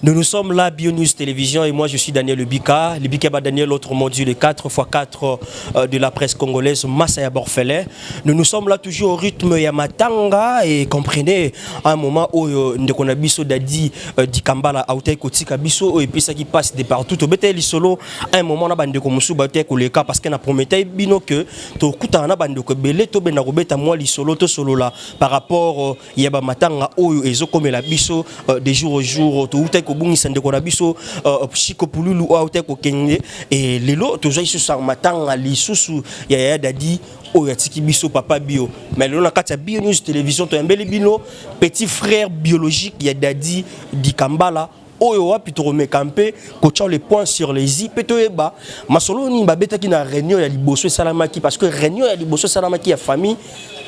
Nous nous sommes là, Bio News Télévision, et moi je suis Daniel Lebika. Lebika ba Daniel, autre module, le 4x4 euh, de la presse congolaise, Massaya Borfelet. Nous nous sommes là toujours au rythme ya Matanga, et comprenez, à un moment où euh, Ndeko Nabiso Dadi euh, Dikambala, Aoutai Kotika Biso, et puis ça qui passe de partout, au Bete Lisolo, à un moment, na Bandeko Moussou Baoutai Koleka, parce qu'on a promis Bino que, to Koutana Bandeko Belé, to Benarobeta, moi Lisolo, to Solola, par rapport ya ba matanga oyo ezo komela biso euh, de jour au jour to uta ko bungisa ndeko na biso euh, chiko pululu ou uta ko kenge et lelo to joyeux sur matanga lisusu ya ya dadi oyo atiki biso papa bio mais lelo na kati ya bio news télévision to yambeli bino petit frère biologique ya dadi dikambala oyo wapi tokomeka mpe kotya le point sur les i mpe toyeba masolo nini babetaki na réunion ya liboso esalamaki parce que réunion ya liboso esalamaki ya famille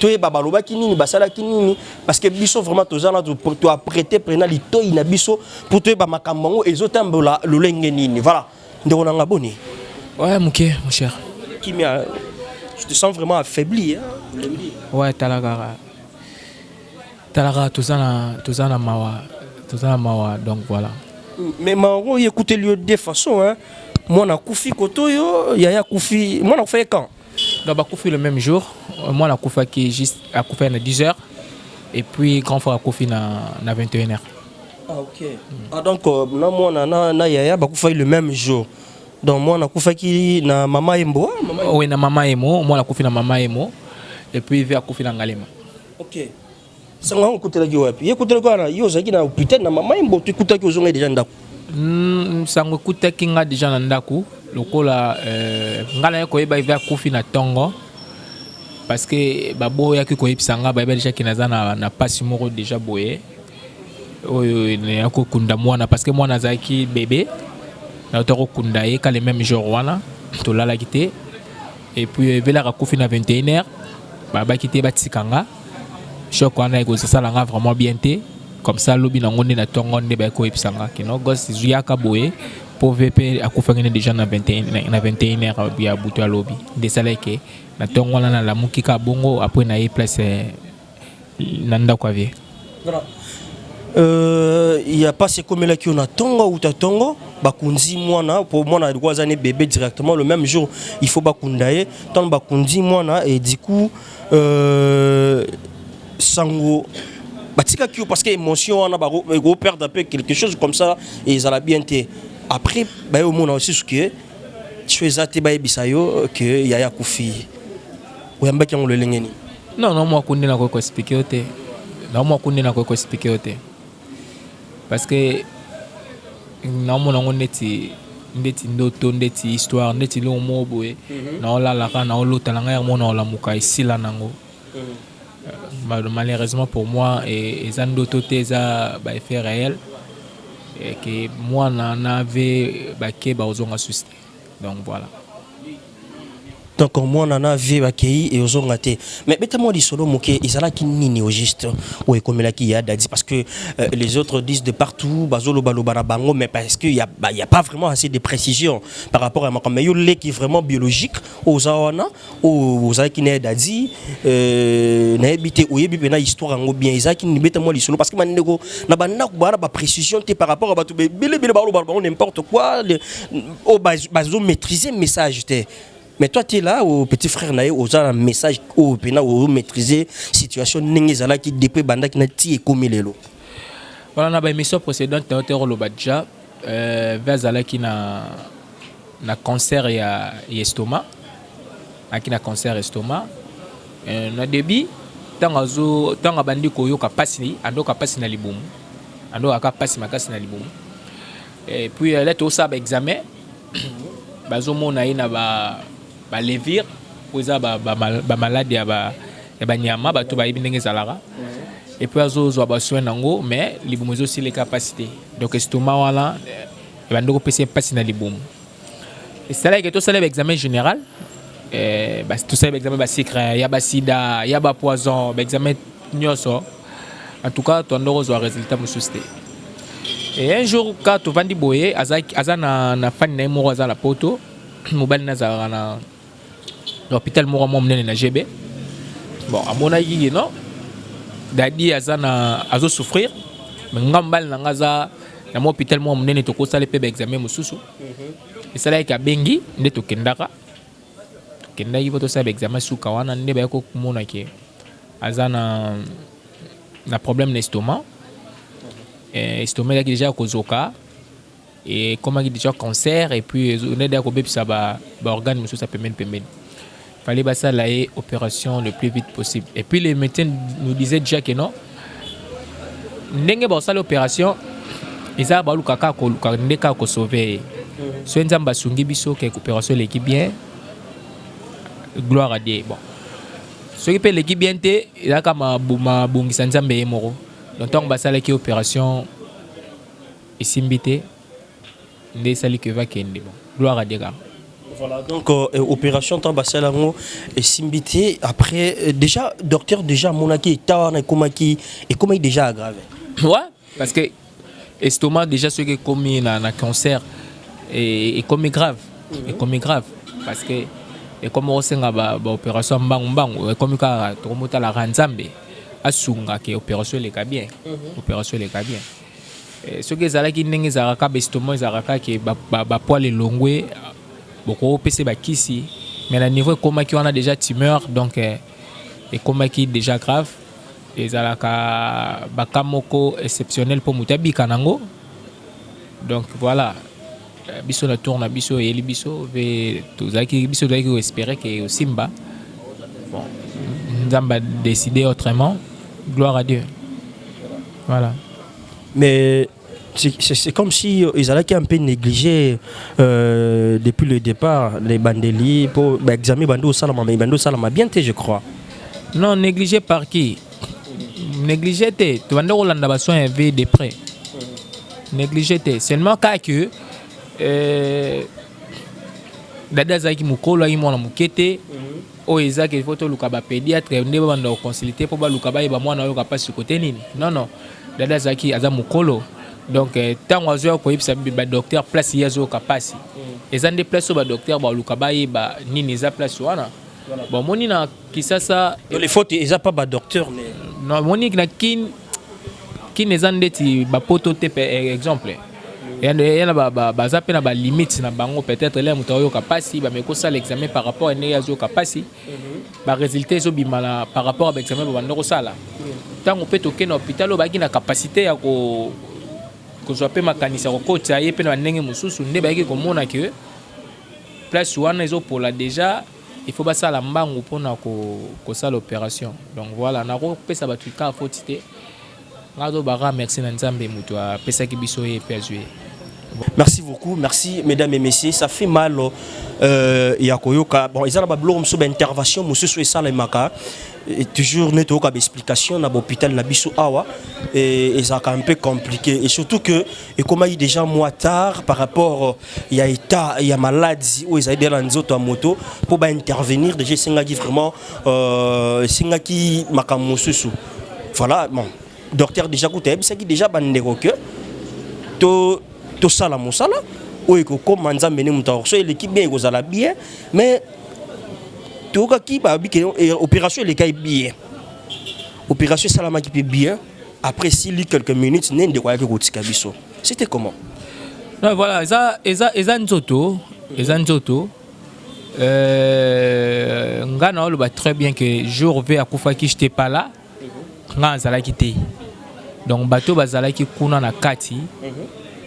toyeba balobaki nini basalaki nini parce que biso vraiment toza na toaprete mpena litoi na biso mpo toyeba makambo yango ezotambola lolenge nini voilà ndeko na nga boni ouais moke mon cher kimia je te sens vraiment affaibli hein? ouais tala kaka Tala kaka toza na toza na mawa toza na mawa donc voilà. Mais mawa ngo ekuteli yo de façon hein mwana akufi koto yo yaya akufi mwana akufa ye quand donc bakufi le même jour euh, mwana akufaki juste akufa na 10 heures et puis grand frère akufi na, na 21 heures ah, ok mm. ah, donc euh, na mwana na, na yaya bakufaki le même jour donc mwana akufaki na mama embo ah, oui na mama emo mwana akufi na mama emo et puis ve akufi na ngalema Okay. Sango yango okutelaki wapi? Ye ekutelaki wana yo ozalaki na hôpital na mama Mboto ekutaki ozongai deja ndako. Mm, sango ekutaki nga deja na ndako lokola euh, nga naye koyeba eve akufi na tongo parce que baboyaki koyebisa nga bayeba deja ke naza na, na pasi moko deja boye oyo ya kokunda mwana parce que mwana azalaki bebe nauta kokunda ye ka le même jour wana tolalaki te et puis ebelaka kufi na 21 heures babaki te batika nga choc wana ekozosala nga vraiment bien te comme ça lobi nango nde na tongo nde baye koyebisa nga kino gos zuyaka boye mpo vp akufaki nde déjà na 21 na 21 heure ya butu ya lobi nde esalaki ke na tongo wana nalamuki ka bongo apres na ye place na ndako ya vie Euh, ya pasi ekomelaki yo na tongo uta tongo bakunzi mwana mpo mwana alikuwa aza ne bebe directement le même jour il faut bakunda ye ntango bakunzi mwana et du coup euh, sango batikaki yo parce que émotion wana bakoperdre mpe quelque chose comme ça ezala bien te après baye omona osusu ke so eza te bayebisa yo ke yaya akufi oyambaki yango lolenge nini non na mwa kunde nakoki koexplike yo te na mwa kunde nakoki koexplike yo te parce que naomona yango ndeti ndeti ndoto ndeti histoire ndeti longo moko boye mhm. naolalaka naolota na ngai yango naolamuka esila nango mhm. euh, malheureusement pour moi e, eza ndoto te eza baeffet réel ke mwana na ve bake bakozonga susi te donc voilà donc mwana na vie bakei e ozonga te mais beta mwa lisolo moke ezalaki nini au juste oyo ekomelaki ya dadi parce que euh, les autres disent de partout bazolobaloba na bango mais parce que y a, bah, y a pas vraiment assez de précision par rapport ya makambo yo leki vraiment biologique oza wana oyo oh, ozalaki na dadi euh, nayebi te oyebi mpena histoire yango bien ezalaki nini beta mwa lisolo parce que bandeko na bandako baa na baprécision te par rapport ya bato belebele baolobala bango n'importe quoi oyo oh, bazo maîtrise message te mais toi tu es là au oh, petit frère na ye oza na message oyo mpena omaîtrise situation ndenge ezalaki depuis ebandaki na ti ekomi lelo wana na baémission précédente na yo te oloba déjà Herve azalaki na na concert ya Estoma, aki na concert Estoma euh, na debut ntango azo ntango abandi koyoka pasi andoka pasi na libumu andoka ka pasi makasi na libumu et puis là tosala ba examen bazomona ye na ba ba levire oyo eza ba, ba, ba malade ya ba ya banyama bato bayebi ndenge ezalaka epuis azozwa basoin nango mais libumu ezosileka mpasi te donc estoma wana ebandi eh, kopesa mpasi na libumu esalaki tosala baexamen général eh, tosala baexamen basecret ya basida ya bapoison baexamen nyonso en tout cas toyanda kozwa résultat mosusu te e un jour ka tovandi boye aza na fani na ye moko aza na poto mobali nazalaka na na hôpital moko mwa monene na GB bon amonaki ye non dadi aza na azo souffrir mais nga mobali na nga aza na mwa hôpital moko monene tokosala mpe baexamen mosusu mhm. esalaki abengi nde tokendaka tokendaki mpo tosala baexamen suka wana nde bayaki komona ke aza na na problème na estomac mhm. eh, estomac ezalaki deja kozoka ekomaki dejà concert et puis on est d'accord bebisa ba ba organes mususu ya pembeni pembeni fallait basala ye opération le plus vite possible et puis les médecins nous disaient déjà que non ndenge bakosala opération eza baluka kaka koluka nde kaka kosauve ye soki nzambe asungi biso ke opération eleki bien gloire à dieu bon soki mpe eleki bien te ezalaka mabongisa nzambe ye moko donc ntango basalaki opération Esimbi te nde esali que va kende bon gloire à Dieu kaka. Voilà, donc euh, opération temps basala yango esimbi te après euh, déjà docteur déjà amonaki eta wana ekomaki ekomaki déjà aggrave ouais parce que estomac déjà soki ekomi na, na cancer e- ekomi grave ekomi grave parce que ekomi osenga ba, ba opération ya mbangu mbangu ekomi kaka tokomotalaka nzambe asungaka opération eleka bien opération eleka bien Eh, soki ezalaki ndenge ezalaka kaka bestoma ezalaka kaka ke bapoile elongwe bokopesa bakisi mais na niveau ekomaki wana déjà tumeur donc eh, ekomaki déjà grave ezalaka baka moko exceptionnel mpo moto abika nango donc voilà Eh, biso na tour na biso eyeli biso mpe tozalaki biso tozalaki koespere ke osimba bon nzambe adeside autrement gloire à dieu voilà mais c'est comme si euh, ils allaient un peu négliger euh, depuis le départ les bandeli pour bah, examiner bando salama mais bando salama bien je crois non négligé par qui négligé te tobanda kolanda basoin ya vie de près négligé te seulement kaka que euh, dada azalaki mokolo ayaki mwana moke te oyo ezaki ifo toluka bapédiatre nde babanda koconsulte mpo baluka bayeba mwana oyoka mpasi kote nini non non dada azalaki aza mokolo donc ntango euh, azoya koyebisa badocteur place ye azoyoka mpasi eza nde place oyo badocteur baluka bayeba nini eza place wana bomoni na kisasa Donc les fautes eza pas ba docteur mais non moni na kin kin eza ndeti ba poto te pe eh, exemple yana ba- ba- baza mpe na balimite na bango peut-être elai moto aoyoka mpasi bameki kosala examen par rapport ya ndenge azoyoka mpasi baresultat ezobima na par rapport ya baexamen babanda kosala ntango mpe tokei na hôpital oyo bayaki na capacité ya ko kozwa mpe makanisi ya kokotisa ye mpe na bandenge mosusu nde bayaki komona ke place wana ezopola déjà il faut basala mbangu pona kosala operation donc voila nako pesa batu ka foti te nga nazo baka merci na nzambe mutu apesaki biso ye pe azwi ye Merci beaucoup, merci mesdames et messieurs. Ça fait mal euh, ya koyoka. Bon, ils ont ba blog sur intervention monsieur sur ça les maka. Et toujours net oka explication na l'hôpital na biso awa et, et ça un peu compliqué et surtout que et comme il déjà moi tard par rapport ya état ya maladi oyo ezali deja na nzoto ya moto mpo ba intervenir deja esengaki vraiment euh, esengaki makambo mosusu voilà bon docteur deja kuta ayebisaki deja bandeko ke to tosala mosala oyo ekokoma nzambe nde moto akoso eleki bien ekozala bien mais toyokaki babi ke eh, opération elekaki bien opération esalamaki mpe bien après sili quelques minutes nde ndeko ayaki kotika biso C'était comment Non, voilà, eza, eza, eza nzoto, eza nzoto. Euh, nga na oloba très bien que jour V akufaki j'étais pas là. Nga azalaki te. Donc bato bazalaki kuna na kati.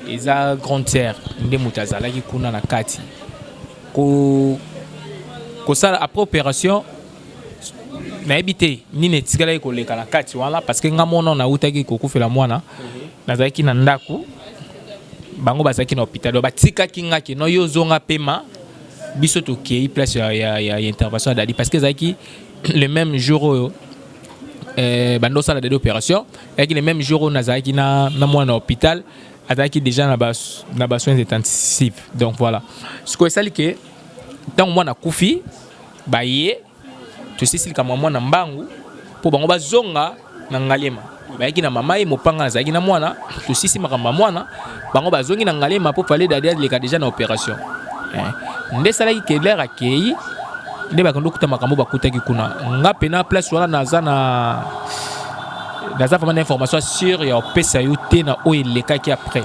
Eza grande sœur nde moto azalaki kuna na kati. Ko kosala après opération nayebi te nini etikalaki koleka na kati wana parce que nga mwana nautaki kokufela mwana nazalaki na ndako bango bazalaki na hôpital donc batikaki nga kino yo ozonga pema biso tokei place ya, ya, ya, ya intervention ya dadi parce que ezalaki le même jour oyo eh, banda osala dadi opération ezalaki le même jour oyo nazalaki na, na mwana na hôpital azalaki déjà na ba, na ba soins intensifs donc voilà sikoyo esali ke ntango mwana akufi Baye tosisi likambo ya mwana mbangu mpo bango bazonga na Ngaliema. Bayaki na mama ye mopanga azalaki na mwana, tosisi makambo ya mwana, bango bazongi na Ngaliema mpo fale dadi aleka deja na operation. Eh, nde esalaki Keller akei nde bakende okuta makambo bakutaki kuna. Nga mpe na place wana naza na naza vraiment na information sur ya opesa yo te na oyo elekaki après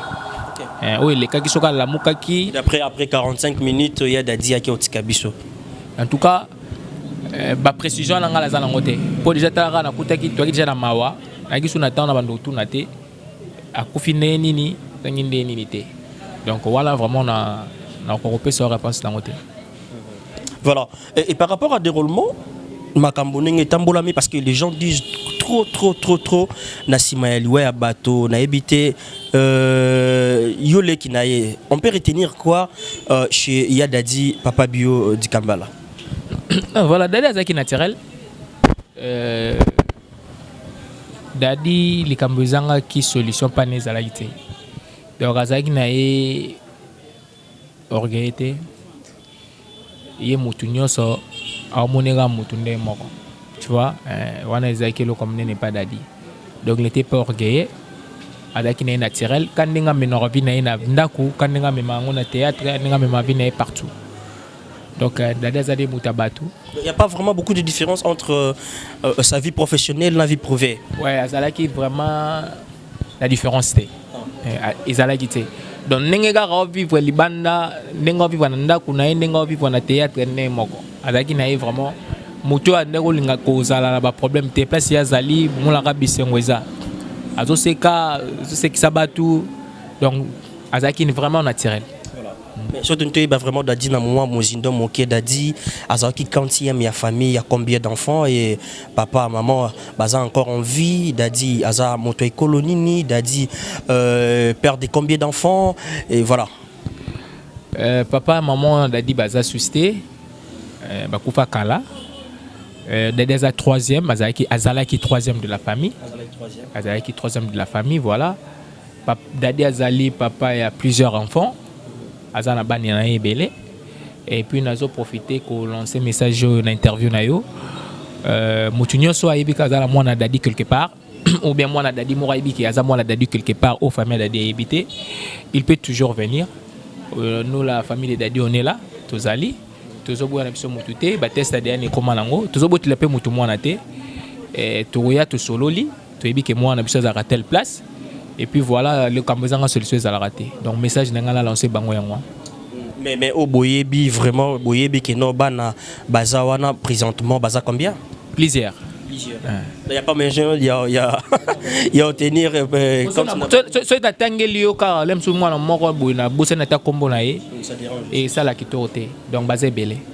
eh, oyo elekaki soki alamukaki après après 45 minutes ya dadi yaki otika biso en tout cas euh, ba précision na ngai naza nango te mpo deja talaka nakutaki toyaki deja na mawa nayaki su na ntango na bando kotuna te akufi ndenge nini ndenge ndenge nini te donc wana vraiment na nakoka kopesa yo réponse nango te voilà et, et par rapport à déroulement makambo ndenge etambolami parce que les gens disent trop trop trop trop na nsima ya liwa ya bato nayebi te Euh, yo leki na ye on peut retenir quoi euh, chez ya dadi papa bio euh, dikambala ah, voilà dadi azalaki naturel euh, dadi likambo ezangaki solution pane ezalaki te donc azalaki na ye Orgueilleux te, ye mutu nioso amoni kaka mutu ndenge moko tu vois, eh, wana ezalaki eloko munene epa Dadi. Donc il n'était pas orgueilleux, azalaki na ye naturel, ka ndenge amemaka vie na ye na ndaku, ka ndenge amemaka yango na theatre, ka ndenge amemaka vie na ye partout. Donc euh, Dadi azali mutu ya batu. Il n'y a pas vraiment beaucoup de différence entre euh, euh, sa vie professionnelle et la vie privée. Ouais, azalaki vraiment na différence te eh, ezalaki te donc ndenge kaka opipre libanda ndenge opipre na ndako na ye ndenge opipre na théâtre nde moko azalaki na ye vraiment moto oyo andaki kolinga kozala na baproblème te place ye azali bomolaka bisengo eza azoseka azosekisa bato donc azalaki vraiment naturel Mais surtout nous toyeba vraiment Dadi na moi mozindo moke Dadi azalaki 40e ya famille ya combien d'enfants et papa maman baza encore en vie Dadi aza moto ekolo nini Dadi euh, père de combien d'enfants et voilà euh, papa maman Dadi baza suscité euh, bakufa kala euh, Dadi aza troisième azalaki azalaki troisième de la famille azalaki troisième de la famille voilà Pap, Daddy azali papa ya plusieurs enfants. Aza na bana na ye ebele. Et puis nazo profiter ko lancer message oyo na interview na yo. Euh, mutu nyonso ayebi ka azala mwana Daddy quelque part ou bien mwana Daddy moko ayebi ki aza mwana Daddy quelque part au famille Daddy ayebi te. Il peut toujours venir. Euh, nous la famille de Daddy on est là, tozali. Tozoboya na biso mutu te, ba test ADN ekoma nango. Tozobotela pe mutu mwana te. Eh, tokoya tosololi toyebi ke mwana na biso azalaka telle place et puis voilà likambo ezanga solution ezalaka te donc message na ngai na lance bango yango mais mais o boyebi vraiment boyebi ke non bana baza wana présentement baza combien plusieurs il n'y a pas mes gens, il y a, il y a, il y a tenir. Euh, comme ça, tu as tangé l'io car l'aime sous moi, mon corps, bousé n'a pas combo naï. Et ça, la qui Donc, basé belé.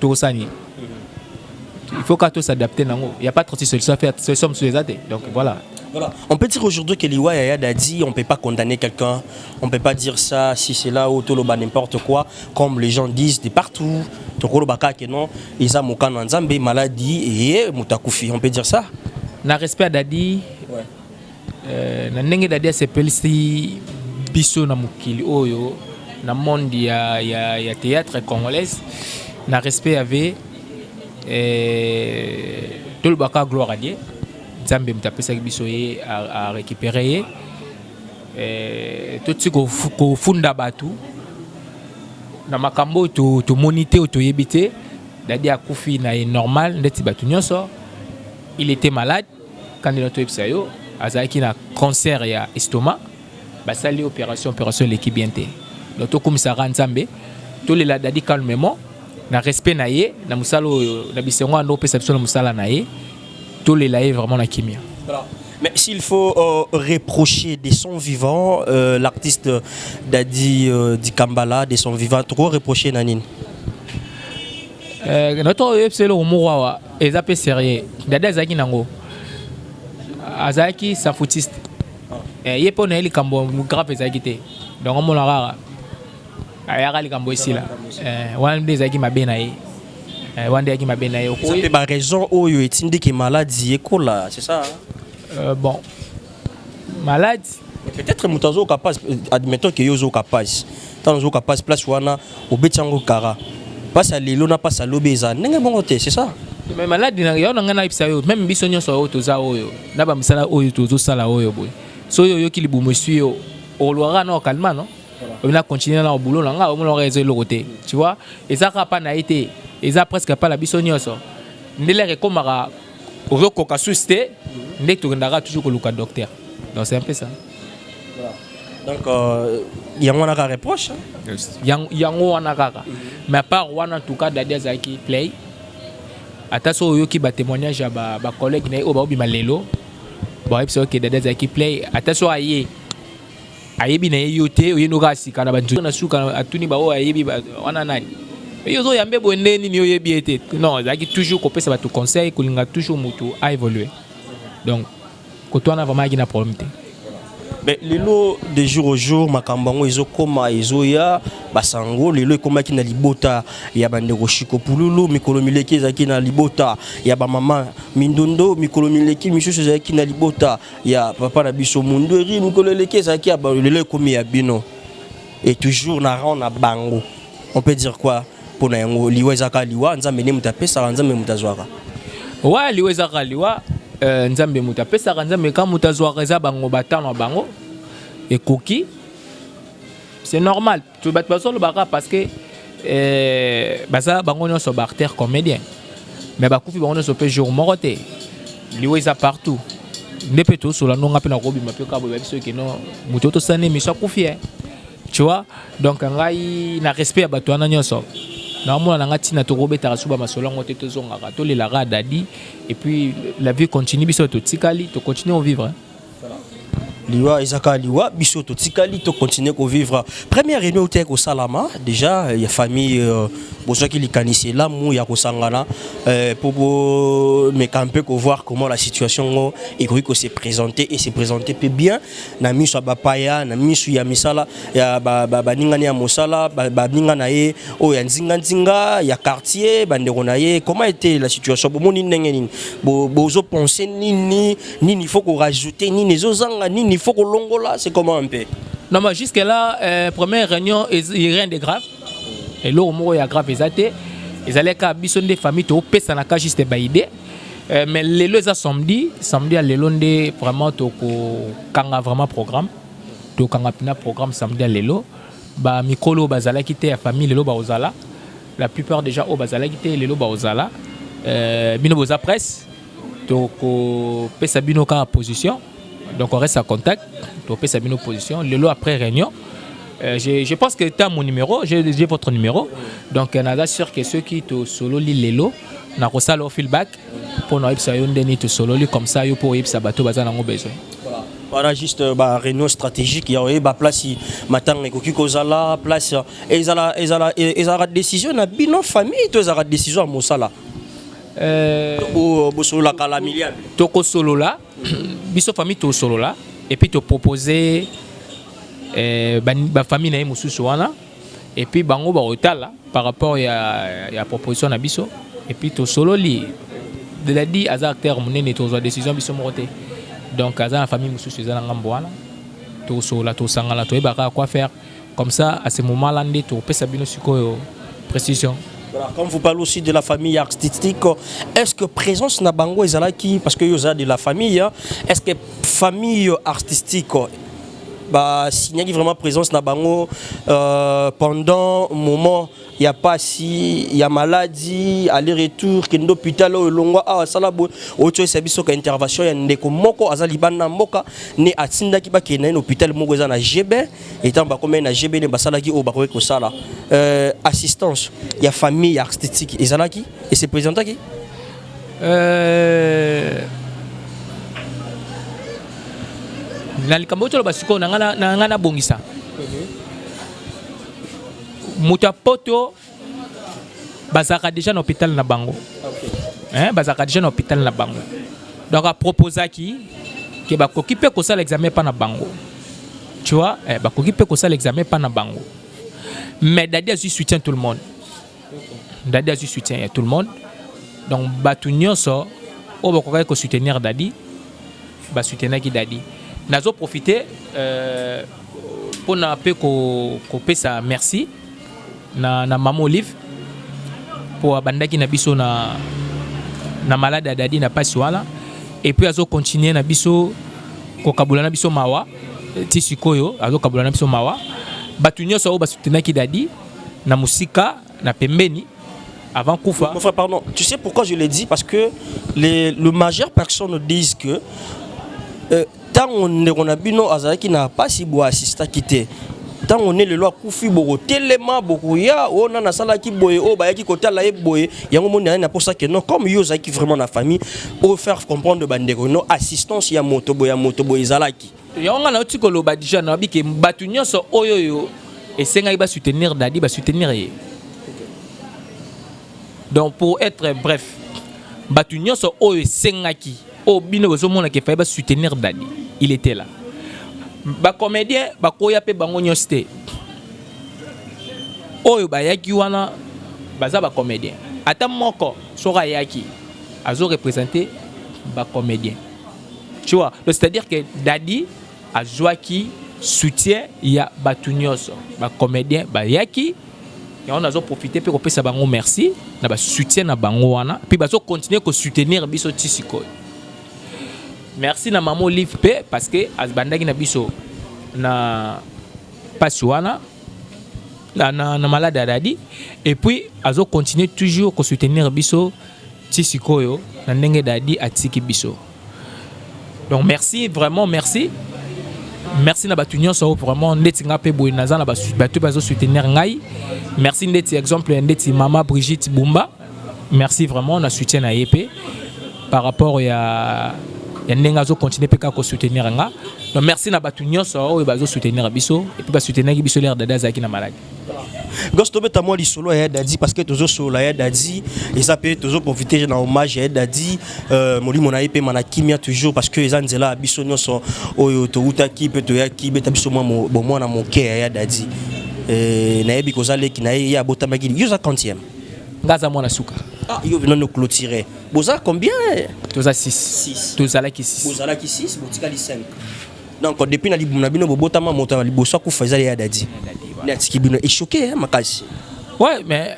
tokosala nini il faut kaka tosadapte nango ya pas 36 solution affaire solution mosusu eza te donc voilà Voilà. On peut dire aujourd'hui que Liwa Yaya Dadi, on ne peut pas condamner quelqu'un, on ne peut pas dire ça, si c'est là ou Toloba, n'importe quoi, comme les gens disent de partout. Tokoloba que non, Isa Mokano Nzambe, maladie et Mutakufi, on peut dire ça. Na respect à Dadi, ouais. Euh, na ndenge dadi asepelisi biso na mokili oyo na monde ya, ya, ya théâtre congolaise na respect ya ve eh, tolobaka gloire adie nzambe moto apesaki biso ye arécupere ye eh, toti kofunda bato na makambo oyo tomoni te oyo toyebi te dadi akufi na ye normal ndeti bato nyonso il était malade Kandy na toyebisa yo azalaki na cancer ya estomac basali ye operation operation eleki bien te donc tokumisa kaka nzambe tolela dadi calmement na respect na ye na mosala oyo na bisengo ando opesa biso na mosala na ye tolela ye vraiment na kimia Mais s'il faut euh, reprocher des sons vivants, euh, l'artiste Dadi euh, Dikambala, des sons vivants, trop reprocher Nanine Euh, na to oyebisa eloko moko awa eza mpe sérieux dada azalaki nango azalaki safutiste eh, ye mpo na ye likambo grave ezalaki te donc omona kaka ayaka likambo esila eh, wana nde ezalaki mabe na ye eh, wana nde ezalaki mabe na ye mpe baraison oyo etindiki maladi ekola c'est ça bon malade peut-être moto azoyoka mpasi admettons ke yo ozoyoka mpasi ntango ozoyoka mpasi place wana obeti yango kara mpasi ya lelo na mpasi ya lobi eza ndenge bongo te c'est ça mais maladi na yo na ngai nayebisa yo meme biso nyonso oyo toza oyo na bamisala oyo tozosala oyo boye soki oyoki libumu eswi yo olwaka na okalma no oyo na continuer na obulo na ngai omonaka eza eloko te tu vois eza kaka mpa na ye te eza presque mpa na biso nyonso ndele ekomaka ozo koka susi te nde tokendaka toujours koluka docteur donc c'est un peu ça donc euh, yango wana kaka reproche yango wana kaka mais à part wana en tout cas dadi azalaki play ata so oyoki batémoignage ya bacollègue na ye oyo baobima lelo bayebisa oke dadi azalaki play ata so aye ayebi na ye yo te oye noka asika na bantu na suka atuni baoyo ayebi wana nani yo ozoyambe boye nde nini oyebi ye te non ezalaki toujours kopesa bato conseil kolinga toujours motu a évoluer donc koto wana vraiment ayaki na problème te mais lelo de jour au jour makambo yango ezokoma ezoya basango lelo ekomaki na libota ya bandeko shiko pululu mikolo mileki ezalaki na libota ya bamama mindondo mikolo mileki misusu ezalaki na libota ya papa na biso mundueri mikolo eleki ezalaki ya lelo ekomi ya bino et toujours na rang na bango on peut dire quoi mpo na yango liwa ezaka liwa nzambe nde moto apesaka nzambe moto azwaka wa liwa ezaka liwa euh, nzambe moto apesaka nzambe ka moto azwaka eza bango batano ya bango ekoki c'est normal tu bato bazolobaka parce que eh, baza bango nyonso baartère comédien mais bakufi bango nyonso mpe jour moko te liwa eza partout nde mpe tosola ndonga mpe nakobima mpe kaboyeba biso ekeno moto tosani miso akufi e tu vois donc ngai na respect ya bato wana nyonso naomona na ngai ntina tokobetaka suba masolo yango te tozongaka tolelaka dadi epuis la vie continue biso totikali tocontinue ovivre liwa eza kaka liwa biso totikali to continuer kovivre première réunion utaki kosalama déjà ya famille euh, bozwaki likanisi elamu ya kosangana mpo euh, bomeka mpe kovoir comment la situation ngo ekoki kose présenter et se présenter mpe bien na miso ya bapaya na miso ya misala ya baningani ya mosala baninga na ye oyo ya nzinganzinga ya quartier bandeko na ye comment ete la situation bomoni ndenge nini bozo pense nini nini faut ko rajouter nini ezozanga nini faut kolongola c'est comment un peu non mais jusque là euh, première réunion rien de grave eloko moko ya grave eza te ezalaki kaka biso nde famille topesanaka juste baide euh, mais lelo eza samedi samedi ya lelo nde vraiment tokokanga vraiment programme tokanga mpena programme samedi ya lelo bamikolo oyo bazalaki te ya famille lelo bakozala la plupart déjà oyo bazalaki te lelo bakozala euh, bino boza presse tokopesa bino kaka position donc on reste en contact topesa bino position lelo après réunion Euh, je, je pense que tu as mon numéro, j'ai votre numéro. Donc, euh, naza sûr que ceux qui te solo li lelo, na ko sala feedback pour na yebisa yo ndeni te solo li comme ça yo pour yebisa bato baza nango besoin. Voilà. Voilà juste euh, ba réunion stratégique ya oyeba place matanga ekoki kozala place ezala ezala ezala décision na bino famille to ezala décision ya mosala. Euh, bosololaka la milliard tokosolola biso famille tosolola epuis topropose eh, bafamille na ye mosusu wana epuis bango bakotala par rapport ya, ya proposition na biso epuis tosololi deladi aza acteur monene tozwa décision biso moko te donc aza na famille mosusu eza na ngambo wana tosolola tosangana toyebaka quoi faire Comme ça, à ce moment-là, nde tokopesa bino sikoyo précision. Voilà, comme vous parlez aussi de la famille artistique, est-ce que présence na bango ezalaki parce que yoza de la famille, hein, est-ce que famille artistique bah signaki vraiment présence na bango euh, pendant moment ya pasi ya maladi aller retour kende hôpital oyo longwa awa sala boye otyolisa biso ka intervention ya ndeko moko aza libanda ya mboka ne atindaki bakende na ye na hôpital moko eza na gb etango bakomai na gb ne basalaki oyo bakoki kosala euh, assistance ya famille ya artistique ezalaki ese présentaki euh... na likambo oyo toloba sikoyo na ngai nabongisa moto ya poto bazalaka deja na hôpital na bango hein, bazalaka deja na hôpital na bango donc aproposaki ke bakoki mpe kosala examen epa na bango tu vois eh, bakoki mpe kosala examen epa na bango mais dadi azwi soutien tout le monde dadi azwi soutien ya tout le monde donc bato nyonso oyo bakokaki kosoutenir dadi ba soutenaki Dadi. Nazo profiter euh, pona pe ko kopesa merci na na maman Olive po abandaki na biso na na malade ya Dadi na pasi wana et puis azo continuer na biso kokabola na biso mawa ti sikoyo azo kabola na biso mawa bato nyonso oyo ba soutenaki Dadi na musika na pembeni avant Koufa. Mon frère, pardon, tu sais pourquoi je l'ai dit Parce que les, le majeur personne disent que euh, tant on ndeko na bino azalaki na pasi bo assista kité ntango ne lelo akufi bokotelema bokoya oyo oh, nani asalaki boye oyo oh, bayaki kotala ye boye yango moni ayani aposa ke non comme yo ozalaki vraiment na famille oyo faire comprendre bandeko no assistance ya moto boye ya moto boye ezalaki yango nga nauti koloba deja nayebi ke bato nyonso oyo oyo esengaki basoutenir dadi basoutenir ye donc pour être bref bato nyonso oyo esengaki oyo bino bozomona ke fai basoutenir dadi il était là bacomédien bakoya mpe bango nyonso te oyo bayaki wana baza bacomédien ata moko soki ayaki azo représente bacomédien Tu vois, donc c'est-à-dire que Daddy a joué qui soutient ya batu nyonso ba comédien bayaki yango nazo profite mpe kopesa bango merci na basoutien na bango wana mpe bazo continue kosoutenir biso ti sikoyo merci na mama olive mpe parce que abandaki na biso na mpasi wana na, na, na malade ya dadi epuis azo continue toujours kosoutenir biso Ti sikoyo na ndenge Dady atiki biso. Donc merci vraiment merci. Merci na batu nyonso oyo vraiment ndeti nga pe boye naza na batu bazo soutenir ngai. Merci ndeti exemple ndeti mama Brigitte Bumba. Merci vraiment na soutien na ye pe par rapport ya ya ndenge azo continuer pe kaka ko soutenir nga. Donc merci na batu nyonso oyo bazo soutenir biso et puis ba soutenir biso l'air dada azalaki na malade. Gosto beta moi lisolo ya Dadi parce que tozo solo ya Dadi et ça peut tozo profiter na hommage ya Dadi euh molimo na yepe mana kimia toujours parce que eza nzela biso nyoso oyo to uta ki peut to ya ki beta biso moi bon moi na mon cœur ya Dadi euh na yebi koza leki na ye ya botama ki yo za quantième ngaza moi na suka ah yo vino no clôturer boza combien toza 6 6 toza la ki 6 boza la ki 6 botika li 5 donc depuis na libumu na bino bobotama moto ya liboso akufa ezali ya dadi nde atiki bino echoke eh, makasi ouais mais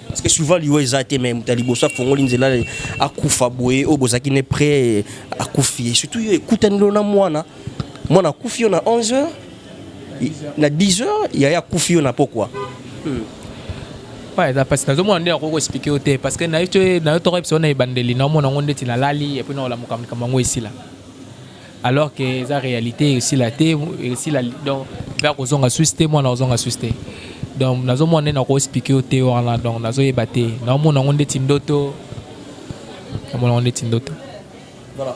parce que souvent liwa eza te mais moto ya liboso afongoli nzela akufa boye oyo bozalaki ne près akufi surtout yo ekutanelo na mwana mwana akufi yo na 11 heures na 10 heures yaya akufi yo na pokwa hmm. eza mpasi nazomona nde nakoki koexplike yo te parce que nayo toko yebisa na ebandeli naomona yango ndeti nalali epui naolamuka likambo yango esila alors que eza réalité esila te esila donc mpe akozonga susi te mwana akozonga susi te donc nazomona nde nakoexplike yo te wana donc nazoyeba te naomona yango ndeti ndoto naomona yango ndeti ndoto Voilà.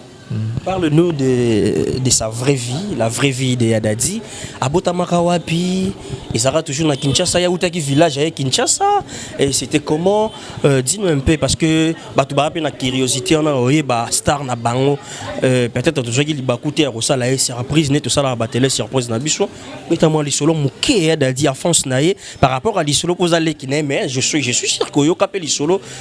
Parle-nous de, de sa vraie vie, la vraie vie de Yadadi. Abotamaka wapi Ezara toujours na Kinshasa, ya utaki village à Kinshasa. Et c'était comment euh, Dis-nous un peu, parce que batu ba na curiosité, on a oye ba star na bango. Euh, Peut-être toujours qu'il ba coûté à Rosa la surprise, net tout ça la batele surprise na biso. Mais t'as moi l'isolo mouké Yadadi à France naïe par rapport à l'isolo posale qui n'est mais je suis je suis sûr que yo capé l'isolo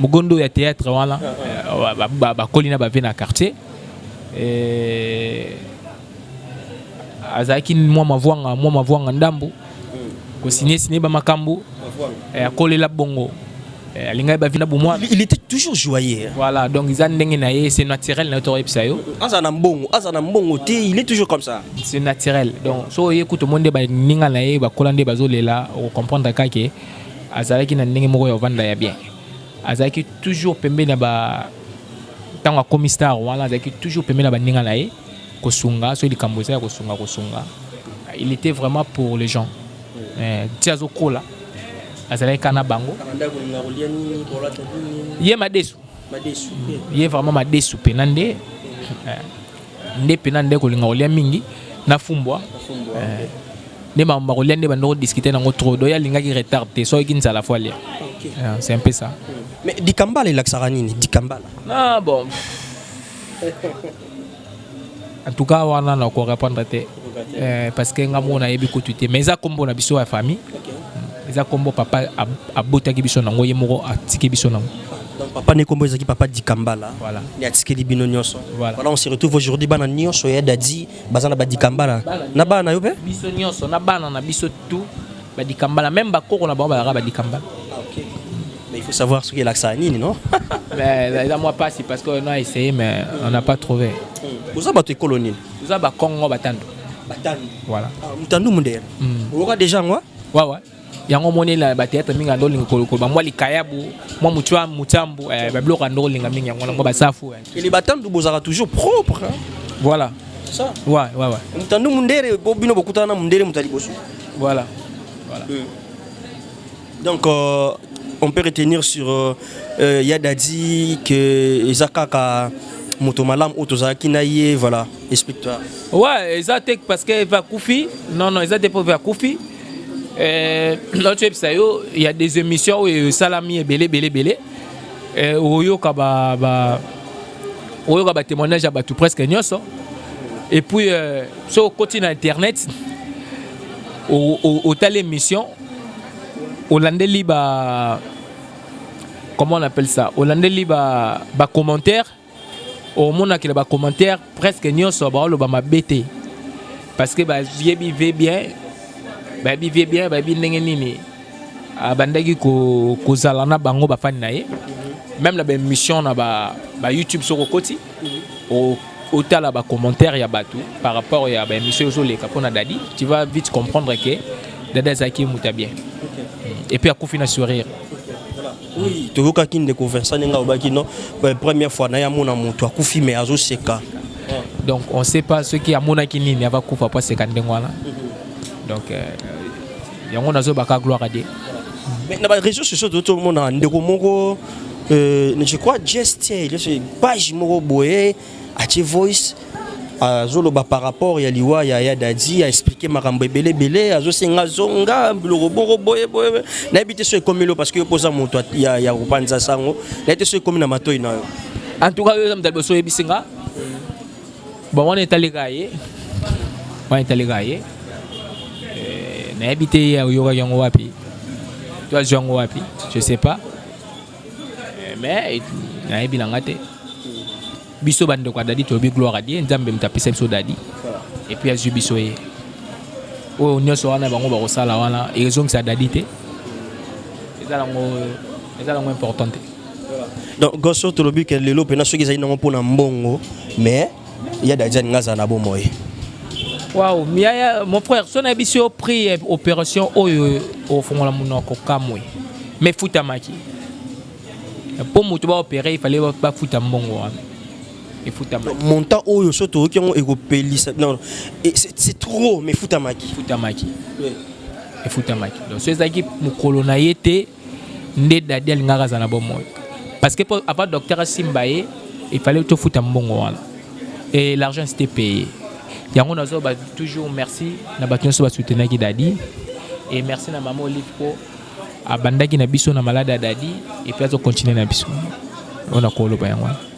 Mugondo ya theatre wana bakoli na ba vie na quartier azalaki mwa mavuanga mwa mavuanga ndambu kosinie sinie ba makambo akolela bongo Eh, alingaki bavi na bomwana il était toujours joyeux voilà donc eza ndenge na ye c'est naturel na yo tokoyebisa yo aza na mbongo aza na mbongo te il est toujours comme ça c'est naturel donc so oye kutu omoni nde baninga na ye bakola nde bazolela okocomprendre kaka ke azalaki na ndenge moko ya ovanda ya bien azalaki toujours pembeni ya ba ntango akomi star wana azalaki toujours pembeni ya baninga na ye kosunga soki likambo eza ya kosunga kosunga il était vraiment pour les gens eh, ti azokola azalaki kaka na bango ye madesu ye vraiment madesu mpena nde eh, nde mpena nde kolinga kolia mingi nafumbwa eh, nde makambo bakolia nde bandoko discuter nango trop donc ye alingaki retard te soki nzala fo alia ah, c'est un peu ça mais dikambala elakisaka nini dikambala ah bon en tout cas wana na korépondre te eh, parce que nga moko nayebi kutu te mais eza nkombo na biso ya famille hmm, eza nkombo papa abotaki biso nango ye moko atiki biso nango donc papa ne nkombo ezalaki papa dikambala voilà. nde atikeli bino nyonso voilà. voilà on se retrouve aujourd'hui bana nyonso ya dadi baza na badikambala na bana na yo mpe biso nyonso na bana na biso tu badikambala meme bakoko na bango bazalaka badikambala Mais il faut savoir ce qu'est l'Axanini, non Mais là, euh, moi, pas si, parce qu'on a essayé, mais on n'a pas trouvé. Vous avez une colonie Vous avez un Congo, Batando. Batando Voilà. Ah, Mutando Mundere. Vous hmm. avez déjà, moi Ouais, ouais. yango omoni na bateatre mingi ando olinga kolokoba mwa likayabu mwa mutambu eh, babiloko ando olinga mingi yango nango basafu eh. ele batandu bozalaka toujours propre voilà ça ouais ouais ouais mutandu mundere po bino bokutana na mundere moto ya liboso voilà voilà euh. donc euh, on peut retenir sur euh, euh, Yadadi que Ezakaka moto malamu oyo tozalaki na ye voilà explique toi ouais eza te parce que va kufi non non eza te po va kufi Euh, naotyebisa yo ya des émissions oyo esalami ebele ebele ebele euh, oyoka ba, ba, oyoka batémoignage ya bato presque nyonso et puis euh, so okoti na internet otali émission olandeli ba comment on appelle ça olandeli ba, ba commentaire omonaki na bacommentaire presque nyonso baoloba mabe te parce que bayebi ve bien bayebi ve bien bayebi ndenge nini abandaki ah, kozala na bango bafani na ye même na baémission na bayoutube ba soki okoti otala bacommentaire ya bato par rapport ya baémission ezoleka mpo na dadi tu vas vite comprendre que dadi azalaki moto ya bien et puis akufi na sourire Oui, toyokaki ndeko Vincent ndenge alobaki no euh, première fois naye amona moto akufi mais azoseka donc on sait pas soki amonaki nini ava kufa po aseka ndenge wana mhm. donc euh, yango nazobaka gloire à dieu mais na baréseau sociaux toyoti omona ndeko moko euh, je crois geste page moko boye atie voice azoloba par rapport ya liwa ya ya dadi a expliquer makambo ebele ebele azosenga zonga biloko boko boye boye nayebi te so ekomi lo parce que yo mpoza moto ya, ya kopanza sango nayebi te so ekomi na matoi na yo en tout cas yo eza moto ya liboso oyebisi nga bon wana etaleka ye wana etaleka ye eh, nayebi te ye oyokaki yango wapi to azwi yango wapi je sais pas Eh, mais nayebi na nga te biso bandeko ya dadi tolobi gloire adie nzambe moto apesa biso dadi epuis azwi biso ye oyo nyonso wana bango bakosala wana ezongisa dadi te eza nango eza nango important te donc goso tolobi ke lelo mpena soki ezali nango mpona mbongo mais Ya Dajani nga za na bo moye. Wow, miaya mon frère, son abisi au prix eh, opération oyo au fond la monoko kamwe. Mais futa maki. Pour mutu ba opérer, il fallait ba futa mbongo wana. Et futa maki. Montant oyo so to ki ngo ekopelisa. Non, c'est trop mais futa maki. Futa maki. Oui. Et futa maki. Donc, c'est ça qui mukolo na yete. nde dadi alingaka aza na bomoi parce que po avant docteur asimba ye il fallait tofuta mbongo wana et l'argent c'était payé yango nazoba toujours merci na bato nyonso basoutenaki dadi et merci na mama olive po abandaki na biso na malade ya dadi epuis azocontinue na biso oyo nakoloba yango wana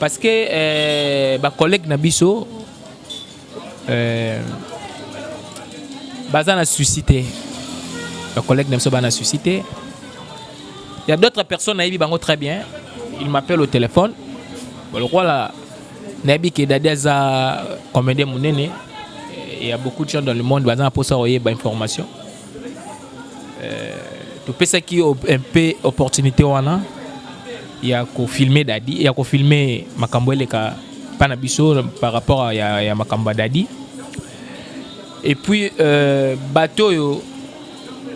parce que euh, ba collègues na biso euh, baza na souci te ba collègues na biso bana souci te il y a d'autres personnes nayebi bango très bien il m'appelle au téléphone lokola nayebi ke dadi aza comédien monene il y a beaucoup de gens dans le monde baza na mposa koyeba information topesaki yo un peu opportunité wana ya kofilme dadi ya kofilme makambo eleka mpa na biso par rapport ya, ya makambo ya dadi et puis euh, bato oyo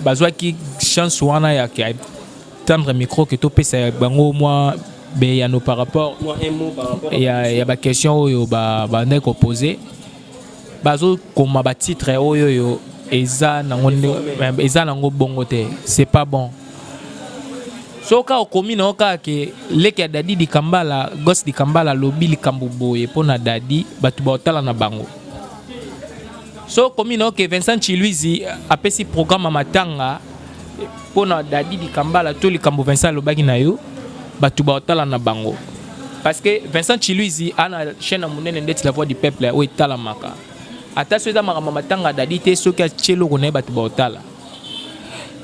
bazwaki chance wana ya tendre micro ke topesa bango mwa beyano par rapport ya, ya baquestion oyo bandaki ba kopose bazokoma ba titre oyo oyo eza nango eza nango bongo te c'est pas bon soki kaka okomi nango kaka ke leki ya dadi likambala gos likambala alobi likambo boye mpo na dadi bato baotala na bango soki okomi nango ke vincent chiluizi apesi programme ya matanga mpo na dadi likambala to likambo vincent alobaki na yo bato baotala na bango parce que Vincent Chiluizi a na chaîne monene ndeti la voix du peuple oyo etalamaka ata soki eza makambo matanga dadi te soki atye eloko na ye bato baotala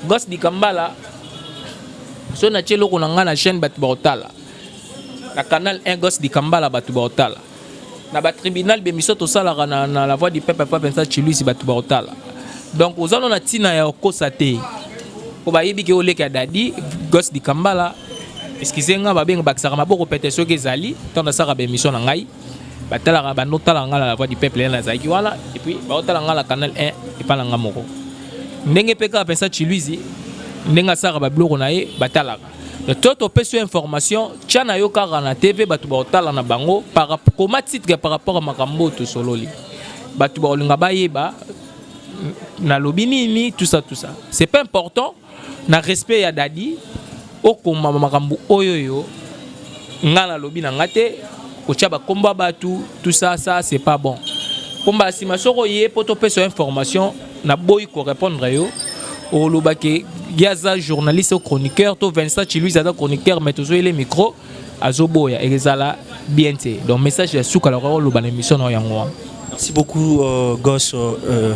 gos dikambala soki natye eloko na ngai na chaîne bato baotala na canal 1 gos dikambala bato baotala na ba tribunal be miso tosalaka na, na la voix du peuple pa Vincent Chiluisi bato bakotala donc oza no na ntina ya okosa te mpo bayebi ke oleka ya dadi gos dikambala excuse nga babenga bakisaka maboko pete soki ezali ntango nasaka ba émission na ngai batalaka bando tala nga na la voix du peuple ena azalaki wana epuis baotala nga na canal 1 epai na nga moko ndenge mpe kaka Vincent Chiluisi ndenge asaka babiloko na ye batalaka to topesi yo information tya na yo kaka na tv bato bakotala na bango koma titre par rapport ya makambo oyo tosololi bato bakolinga bayeba nalobi nini tout ça tout ça c'est pas important na respect ya dadi okoma makambo oyo yo ngai nalobi na ngai te kotia bakombo ya bato tout ça ça c'est pas bon mpo mbala nsima soko ye mpo topesa yo information naboyi korépondre yo oloba ke ye aza journaliste o chroniqueur to vincent chiluis aza chroniqueur mais tozoyele micro azoboya ekezala bien te donc message ya suka lokola oloba na émission na yo yango wana merci beaucoup uh, gos uh,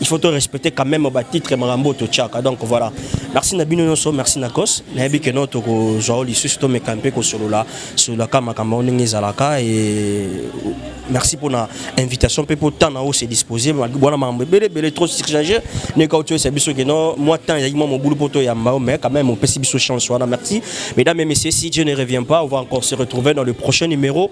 il faut to respecter quand même ba titre makambo to tchaka donc voilà merci na bino nyonso merci na cos na yebi que non to ko zwa lisusu to meka mpe ko solola solola ka makambo ndenge ezalaka et merci pour na invitation mpe pour temps na o se disposer bwana makambo ebele ebele trop surchargé ne ka otoyesa biso que non moi temps ezalaki mwa mobulu mpo toyamba mais quand même opesi biso chance wana merci mesdames et messieurs si Dieu ne revient pas on va encore se retrouver dans le prochain numéro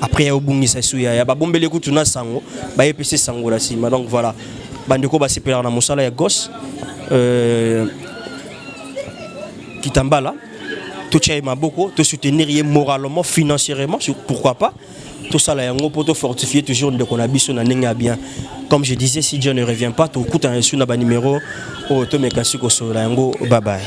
après ya obungisa esu ya ya babombeli kutu na sango baye pesi sango na sima donc voilà bandeko basepelaka na mosala ya gos euh, kitambala totya ye maboko tosoutenir ye moralement financièrement pourquoi pas tosala yango mpo tofortifie toujours ndeko na biso na ndenge ya bien comme je disais si dieu ne revient pas tokutana esu na banimero oyo tomeka si kosolola yango babaye